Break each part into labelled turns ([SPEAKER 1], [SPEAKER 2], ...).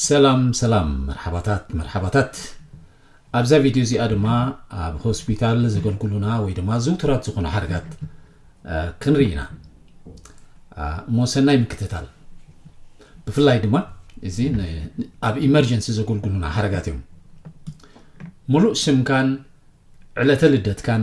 [SPEAKER 1] ሰላም ሰላም መርሓባታት መርሓባታት ኣብዛ ቪድዮ እዚኣ ድማ ኣብ ሆስፒታል ዘገልግሉና ወይ ድማ ዝውቱራት ዝኾኑ ሓደጋት ክንርኢ ኢና እሞ ሰናይ ምክትታል ብፍላይ ድማ እዚ ኣብ ኢመርጀንሲ ዘገልግሉና ሓደጋት እዮም ሙሉእ ስምካን ዕለተ ልደትካን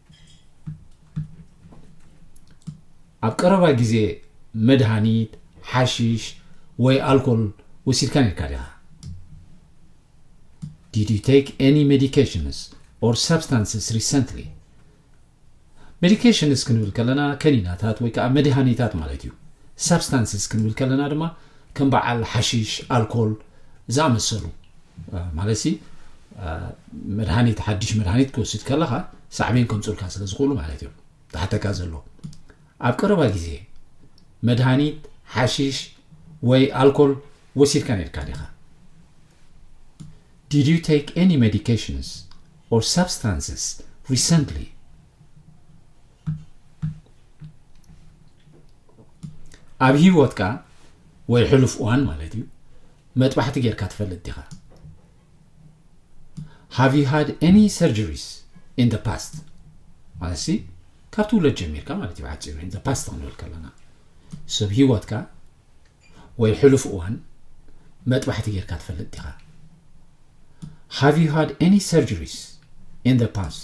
[SPEAKER 1] ኣብ ቀረባ ግዜ መድሃኒት፣ ሓሺሽ ወይ ኣልኮል ወሲድካ ነርካ ዲኻ? Did you take any medications or substances recently? ሜዲኬሽንስ ክንብል ከለና ከኒናታት ወይ ከዓ መድሃኒታት ማለት እዩ ሳብስታንስስ ክንብል ከለና ድማ ከም በዓል ሓሺሽ ኣልኮል ዝኣመሰሉ ማለት ሲ መድሃኒት ሓድሽ መድሃኒት ክወስድ ከለኻ ሳዕቤን ከምፅኡልካ ስለ ዝኽእሉ ማለት እዮም ዝሓተካ ዘሎ ኣብ ቀረባ ግዜ መድሃኒት ሓሽሽ ወይ ኣልኮል ወሲድካ ነርካ ዲኻ Did you take any medications or substances recently? ኣብ ሂወትካ ወይ ሕሉፍ እዋን ማለት እዩ መጥባሕቲ ጌርካ ትፈልጥ ዲኻ ሃቭ ዩ ሃድ ኤኒ ሰርጀሪስ ኢን ዘ ፓስት ማለትሲ ካብ ትውለድ ጀሚርካ ማለት እዩ ብሓፂሩ ኢን ዘ ፓስት ክንብል ከለና ስብ ሂወትካ ወይ ሕሉፍ እዋን መጥባሕቲ ጌርካ ትፈልጥ ዲኻ ሃቭ ዩ ሃድ ኤኒ ሰርጀሪስ ኢን ዘ ፓስት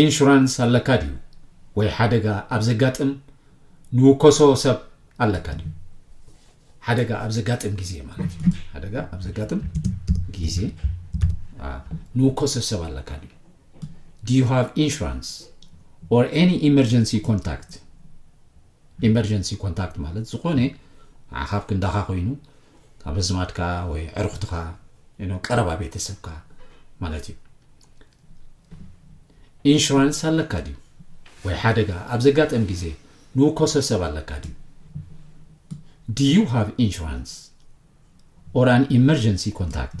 [SPEAKER 1] ኢንሹራንስ ኣለካ ድዩ ወይ ሓደጋ ኣብ ዘጋጥም ንውከሶ ሰብ ኣለካ ድዩ ሓደጋ ኣብ ዘጋጥም ግዜ ማለት እዩ ሓደጋ ኣብ ዘጋጥም ግዜ ንውከሶ ሰብ ኣለካ ድዩ ዱ ዩ ሃቭ ኢንሹራንስ ኦር ኤኒ ኢመርጀንሲ ኮንታክት ኢመርጀንሲ ኮንታክት ማለት ዝኾነ ዓኻብ ክንዳኻ ኮይኑ ካብ ኣዝማድካ ወይ ዕርኹትኻ ኖ ቀረባ ቤተሰብካ ማለት እዩ ኢንሹራንስ ኣለካ ድዩ ወይ ሓደጋ ኣብ ዘጋጠም ግዜ ንውከሶ ሰብ ኣለካ ድዩ ዲዩ ሃቭ ኢንሹራንስ ኦር ኣን ኢመርጀንሲ ኮንታክት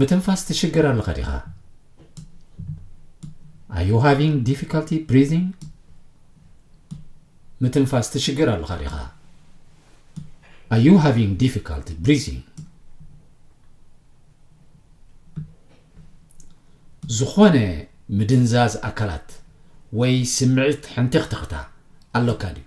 [SPEAKER 1] ምትንፋስ ትሽገር ኣለኻ ዲኻ ኣዩ ሃቪንግ ዲፊካልቲ ብሪዚንግ ምትንፋስ ትሽገር ኣለኻ ዲኻ ኣዩ ሃቪንግ ዲፊካልቲ ብሪዚንግ ዝኾነ ምድንዛዝ ኣካላት ወይ ስምዒት ሕንቲኽትኽታ ኣሎካ ድዩ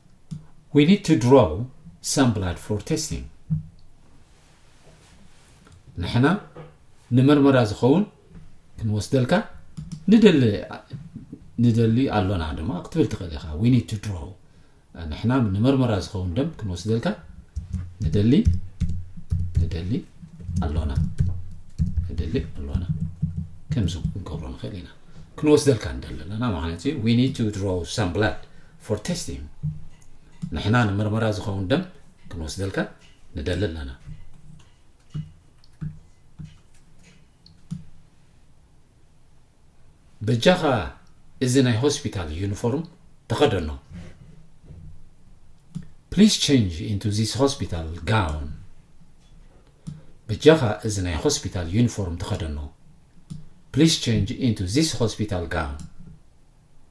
[SPEAKER 1] We need to draw some blood for testing. ንሕና ንመርመራ ዝኸውን ክንወስደልካ ንደሊ ንደሊ ኣሎና ድማ ክትብል ትኽእል ኢኻ we need to draw ንሕና ንመርመራ ዝኸውን ደም ክንወስደልካ ንደሊ ንደሊ ኣሎና ንደሊ ኣሎና ከምዚ ክንገብሮ ንኽእል ኢና ክንወስደልካ ንደሊ ኣለና ማለት እዩ we need to draw some blood for testing ንሕና ንምርመራ ዝኸውን ደም ክንወስደልካ ንደሊ ኣለና በጃኻ እዚ ናይ ሆስፒታል ዩኒፎርም ተኸደኖ ፕሊስ ቸንጅ ኢንቱ ዚስ ሆስፒታል ጋውን በጃኻ እዚ ናይ ሆስፒታል ዩኒፎርም ተኸደኖ ፕሊስ ቸንጅ ኢንቱ ዚስ ሆስፒታል ጋውን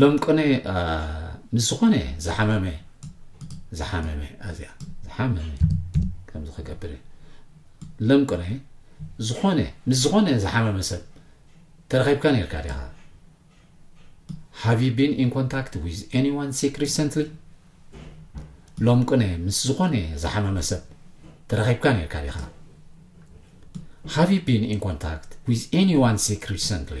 [SPEAKER 1] ሎምቅነ ምስ ዝኾነ ዝሓመመ ዝሓመመ ኣዚያ ዝሓመመ ከምዚ ክገብር ሎምቅነ ዝኾነ ምስ ዝኾነ ዝሓመመ ሰብ ተረኺብካ ነርካ ዲኻ ሃቭ ዩ ቢን ኢን ኮንታክት ዊዝ ኤኒዋን ሲክ ሪሰንትሊ ሎምቅነ ምስ ዝኾነ ዝሓመመ ሰብ ተረኺብካ ነርካ ዲኻ ሃቭ ዩ ቢን ኢን ኮንታክት ዊዝ ኤኒዋን ሲክ ሪሰንትሊ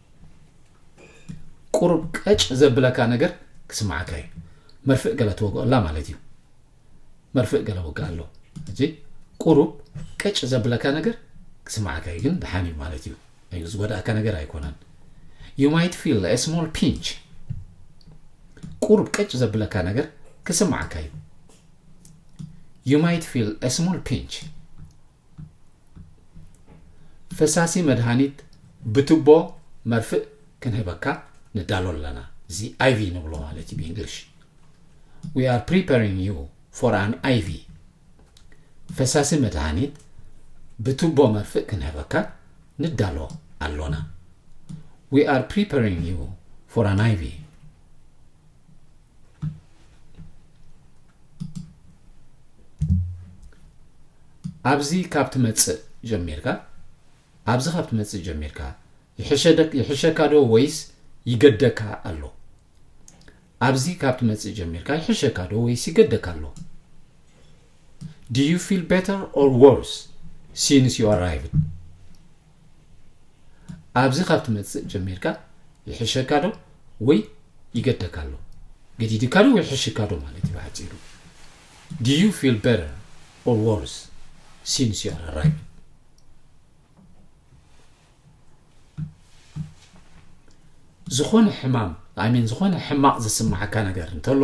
[SPEAKER 1] ቁሩብ ቀጭ ዘብለካ ነገር ክስምዓካ እዩ መርፍእ ገለ ትወግኦላ ማለት እዩ መርፍእ ገለ ወግእ ኣሎ እዚ ቁሩብ ቀጭ ዘብለካ ነገር ክስምዓካ እዩ ግን ደሓን እዩ ማለት እዩ እዩ ዝጎዳእካ ነገር ኣይኮነን ዩ ማይት ፊል ስሞል ፒንች ቁሩብ ቀጭ ዘብለካ ነገር ክስምዓካ እዩ ዩ ማይት ፊል ስሞል ፒንች ፈሳሲ መድሃኒት ብትቦ መርፍእ ክንህበካ ንዳሎ ኣለና እዚ ኣይቪ ንብሎ ማለት እዩ ብእንግሊሽ ዊ ኣር ፕሪፐሪንግ ዩ ፎር ኣን ኣይቪ ፈሳሲ መድሃኒት ብትቦ መርፍእ ክንህበካ ንዳሎ ኣሎና ዊ ኣር ፕሪፐሪንግ ዩ ፎር ኣን ኣይቪ ኣብዚ ካብ ትመጽእ ጀሚርካ ኣብዚ ካብ ትመጽእ ጀሚርካ ይሕሸካ ዶ ወይስ ይገደካ ኣሎ ኣብዚ ካብ ትመጽእ ጀሚርካ ይሕሸካ ዶ ወይስ ይገደካ ኣሎ do you feel better or worse since you arrived ኣብዚ ካብ ትመጽእ ጀሚርካ ይሕሸካ ዶ ወይ ይገደካ ኣሎ ገዲድካ ዶ ወይ ሕሽካ ዶ ማለት እዩ ብሓጺሩ do you feel better or worse since you are arrived ዝኾነ ሕማም ኣይ ሚን ዝኾነ ሕማቕ ዝስማዓካ ነገር እንተሎ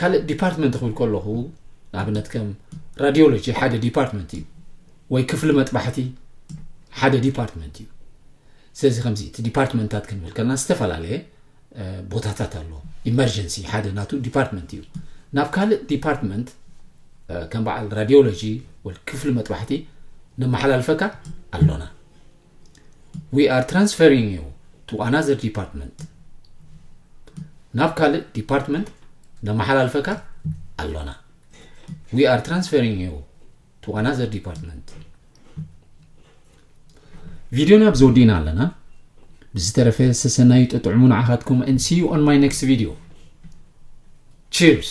[SPEAKER 1] ካልእ ዲፓርትመንት ክብል ከለኹ ንኣብነት ከም ራዲዮሎጂ ሓደ ዲፓርትመንት እዩ ወይ ክፍሊ መጥባሕቲ ሓደ ዲፓርትመንት እዩ ስለዚ ከምዚ እቲ ዲፓርትመንታት ክንብል ከለና ዝተፈላለየ ቦታታት ኣሎ ኢመርጀንሲ ሓደ ናቱ ዲፓርትመንት እዩ ናብ ካልእ ዲፓርትመንት ከም በዓል ራዲዮሎጂ ወይ ክፍሊ መጥባሕቲ ነመሓላልፈካ ኣሎና ዊ ኣር ትራንስፈሪንግ ዩ ቱ ኣናዘር ዲፓርትመንት ናብ ካልእ ዲፓርትመንት ነመሓላልፈካ ኣሎና ዊ ኣር ትራንስፈሪንግ ዩ ቱ ኣናዘር ዲፓርትመንት ቪድዮ ናብ ዘወዲእና ኣለና ብዝተረፈ ሰሰናዩ ጥጥዕሙ ንዓኻትኩም and see you on my next video cheers